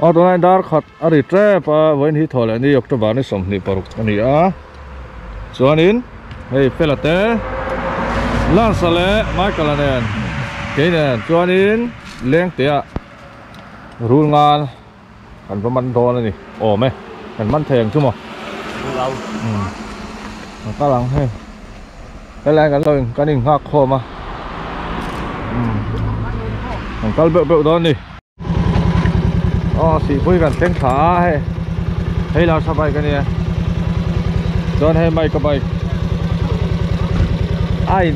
Aw tunah hian dar khat a ri tep a vawiin hi thaw leh ni october ni sawmhnih paruk a ni a chuanin hei fela te lance leh michael a nen kei nen chuanin lengtea rul ngal. Kan va man dawn a ni awm e. Kan man thei ang chu maw? Ka kal ang hei. Helain kan lo in kan in nghak khawm a. Kan kal beuh beuh dawn a ni. Aw sihpui kan thleng thla a hei. Hei Larsa bike a nia. Chuan hei Mike-a bike. Ai.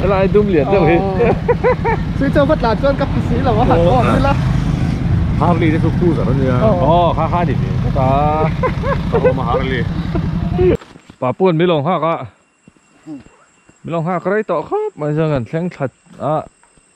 Helai dum lian deuh hi Chu chu va tlan chuan ka hmu si lo a han awm ila a Harley te chu khu zarh a nia aw kha kha ni tih ka ta ka awm a Harley Papuan mi lo nghak a mi lo nghak rei tawh khawp mai chuan kan thleng tlat a.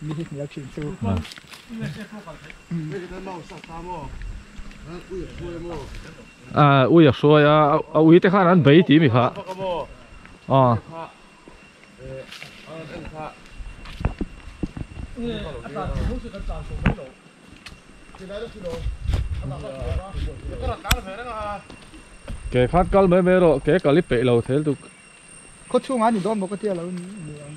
Mi hi hmel thin chu. Uia hruai a, a ui te khan an bei tih mi kha. Aw. Ke khan kal mai mai erawh ke kal i peih lo thel tuk. Khawchhungah a ni dawn bawk a tia lo ni ang.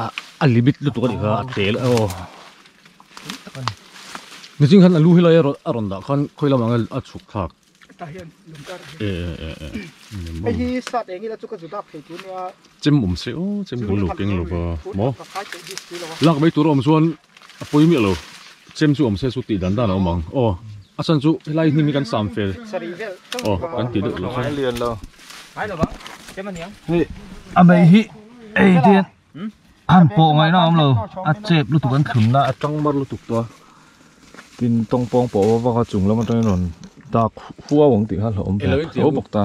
ah a limit lutuk a ni kha a tel a aw nizing khan a lu helai a rawn a rawn dah khan khawi lamah khan a chhuk thlak hetah hian lung ta reh e e e e hei hi sat eng ila chu ka zu dak thei tur nia chem awm se aw chem bul lo keng lo va maw lak mai tur awm chuan A pawi miah lo. Chem chu awm se chu tih dan dan a awm ang. Aw a chhan chu helai hnim hi kan sam fel. Aw kan tih deuh leh chuan. Hei a beih hi hei te hian han pawh ngaih na awm lo. A chep lutuk an thlun na a chang mar lutuk tawh a. Tin tawng pawng pawh a va vak a chung lam atangin rawn dak huau ang tih kha a hlauh awm ta.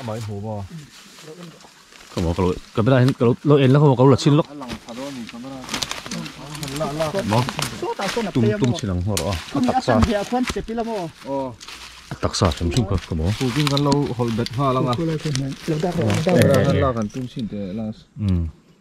Amah i hmuh maw? Ka maw ka lo camera hin ka lo en lova ka lo la chhin lawk. Tum tum chin ang hmawr a. Taksa. Taksa chim chim ka ka maw. Putin kan lo hol bet hma langa. Camera han la kan tum chin te last.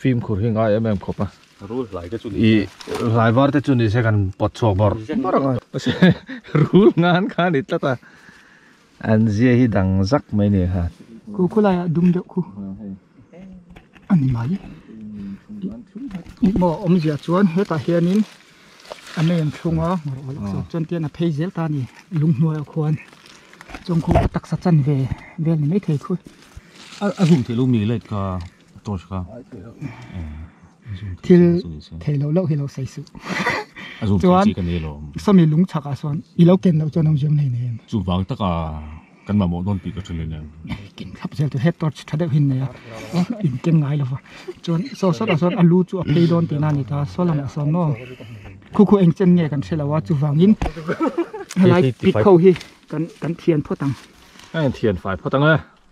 Fim khur hi ngai em em khawp a. Rul hlai te chu ni se. I hlai var te chu ni se kan pawt chhuak bawrh bawrh ang a. Rul ngan kha a ni tlat a. An zia hi dang zak mai ni kha. Khaw khaw laiah dum deuh khu a ni mai. Engmah a awm zia chuan hetah hianin a nen thlung a ngawrh awlh zawk chuan tian a phei zel ta a ni. Lung hnuaia khuan chawng khawpa taksa chan ve vel ni maithei khu. A zum theih lo mi leh ka. Torch kha. Thil thei lo lo hi lo sei suh. Chuan sawmi lung chak ah chuan i lo ken loh chuan a awm ziam nei nen. Chu vang tak a kan mamawh dawn tih ka tha nen. Ken thlap zel tawh he torch tha deuh hi nei a in ken ngai lo va. Chuan saw sawt ah chuan a lu chu a phei dawn tih na a ni ta saw lam ah sawn maw khu khu eng chen nge kan hre lo a chu vang in helai pit ho hi kan kan thian phawt ang. Kan thian fai phawt ang e.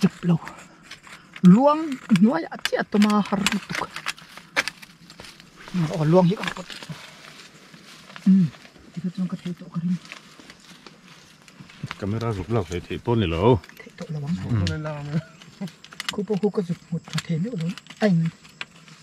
tep lo luang hnuai ah chiah a tuma har lutuk aw luang hi ka rawh umm tikah chuan ka theih tawh ka ring camera ruk lak hlei theih pawh ni lo theih tawh lo ang khupo khu ka zuk nghut hma thei meuh lo a in.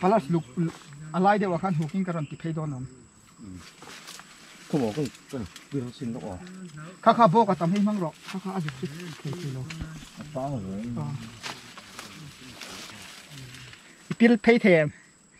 Palace luk a lai deuhah khan hukin ka rawn ti phei dawn ang. Kha kha bawk a tam hi hmang rawh, kha kha a zuk chu thei thei lo. I pil phei thei em?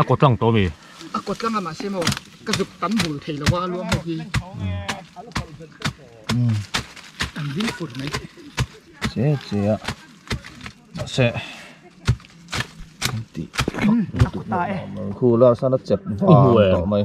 A kaw tlang tawh a mi. A kaw tlang a mahse maw ka zuk tam bul thei lo a luang ho hi an ding fur mai che che a mahse kan tih lutuk hlawm lo a khu Larsana chep vang tawh mai.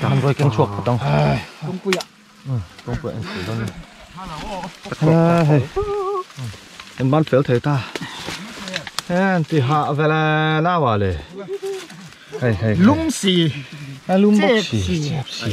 Kan rawikeng chhuak put ang. Kawngpuia. Kawngpuia en sawi dawn nia. Kan ban fel thei ta. Hen ti ha vele nau a le. Hei hei. Lungsi. Lungboksi. Chep si.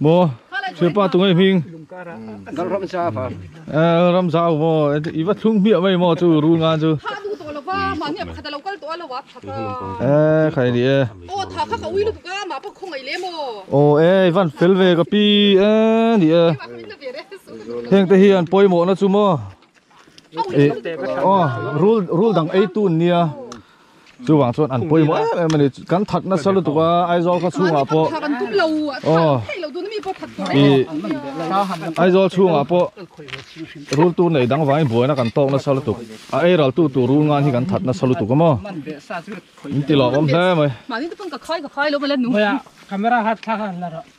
Maw hria pa tunge hming ram zau maw i va thlung hmiah mai maw chu rul ngan chu tha duh tawh lova mahni pakhat a lo kal tawh a lo a tha kha e kha i ni e aw tha kha ka ui lutuk a mah pawh khawngaih lem aw aw e i van fel ve ka pi e ni e heng te hian pawimawhna chu maw e aw rul rul dang eitu an nia chu wang chuan an pawimawh em em ani kan that nasa lutuk a Aizawl kha chhungah pawh aw i Aizawl chhungah pawh rul tur nei dang vangin buaina kan tawk nasa lutuk a ei ral tu tur rul ngan hi kan that nasa lutuk a maw in ti lawk awm hle mai camera hat thlak a la rawh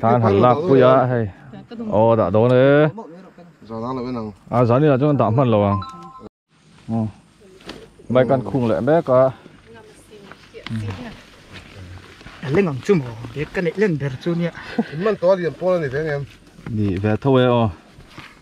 Tlan han lak pui a hei aw dah dawn e zan ang lo in ang a zan in ah chuan dah hman lo ang bike an khung leh mek a a leng ang chu maw bag ka neih len ber chu nia in man tawh a liam pawl a ni ve ang em ni ve tho e aw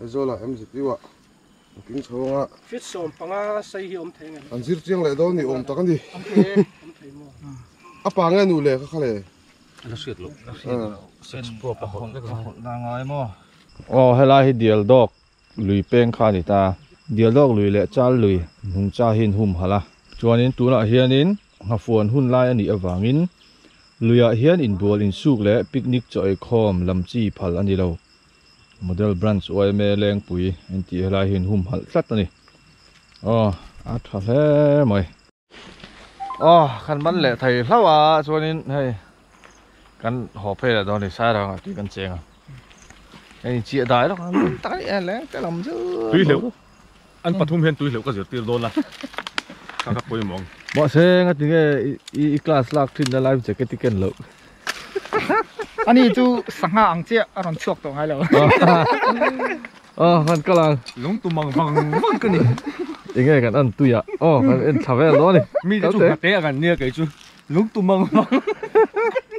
Aizawl ah em zit iuah an king chho ang a. Feet sawm panga sai hi awm thei nge. An zir chiang leh dawn ni awm tak a ni. Awm thei e, awm thei maw. A pa nge a nu le ka kha le. A la hriat loh. A hriat loh. Sex probe a hawlh vek lo. A hawlh na ngai maw. Aw helai hi dial dawk lui peng kha a ni ta. Dial dawk lui leh chal lui hnung cha hi an hum halh a. Chuanin tunah hianin nghafuan hun lai a nih avangin luiah hian inbual insuk leh picnic chaw ei khawm lam chi phal a ni lo. Model branch uaima lengpui an tih helai hi an hum halh tlat a ni. Aw a tha hle mai. Aw khan man leh thei hlau a chuanin hei kan haw phei leh dawn a ni sairang ah tui kan cheng a. Hei chiah dai lawk a tam tak a ni a leng te lam chu. Tui hleuh. An pathum hian tui hleuh ka zirtir dawn a, ka ka pawimawh ang. Mahse eng a ti nge i i class lak thin na life jacket i ken loh. Ani chu sangha ang chiah a rawn chhuak tawh ngai lo. A han kal ang. Lungtum ang vang vang ka ni. Enge kan an tui a, aw kan en thla vel dawn a ni. Mi te chu hna te a kan nia kei chu lungtum ang vang vang ka ni.